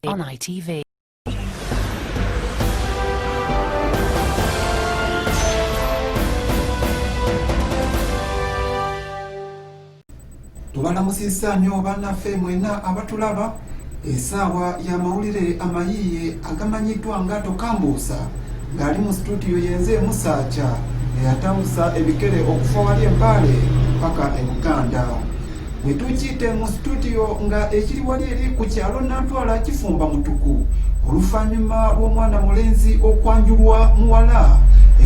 On ITV. tubalamusizza nnyo bannaffe mwena abatulaba Esaawa y'amawulire amayiiye agamanyiddwa nga Tokambuusa ng'ali mu situdiyo yenze Musaacha eyatambusa ebikere okuva wali empaale paka e Buganda. Bwe tukiyite mu situdiyo nga ekiri wali eri ku kyalo Nantwala kifumba mutuku oluvannyuma lw'omwana mulenzi okwanjulwa muwala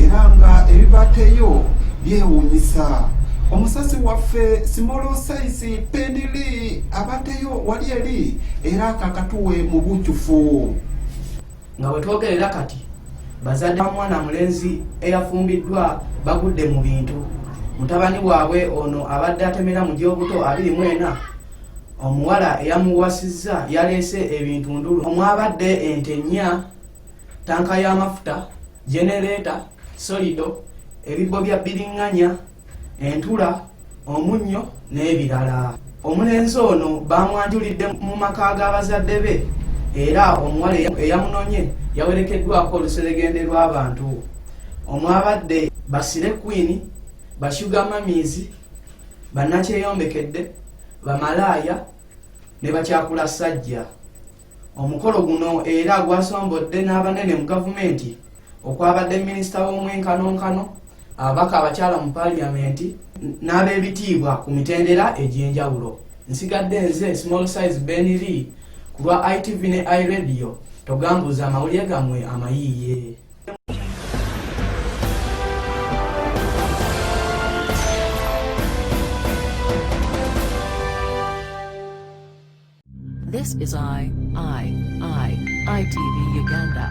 era nga ebibateyo byewuunyisa. Omusasi waffe Simolo Saisi Pendili abate yo wali eri era akakatuwe mu bujjufu nga bwe twogerera kati bazadde ba mwana mulenzi eyafumbiddwa bagudde mu bintu mutabani waabwe ono abadde atemera mu gy'obuto abiri mu ena omuwala eyamuwasizza yaleese ebintu ndulu omwabadde ente nnya tanka y'amafuta genereeta solido ebibbo bya bbiringanya entula omunnyo n'ebirala omulenzi ono baamwanjulidde mu maka g'abazadde be era omuwala eyamunonye yawerekeddwako oluseregende lw'abantu omwabadde basire kwini bashuga mamiizi bannakyeyombekedde bamalaaya ne bakyakula sajja Omukolo guno era gwasombodde n'abanene mu gavumenti okwabadde minisita w'omwenkanonkano, ababaka abakyala mu paaliyamenti n'ab'ebitiibwa ku mitendera egy'enjawulo. Nsigadde nze Small Size Ben Lee ku lwa ITV ne iRadio, togambuuza amawulire gammwe amayiiye. This is I, I, I, ITV Uganda.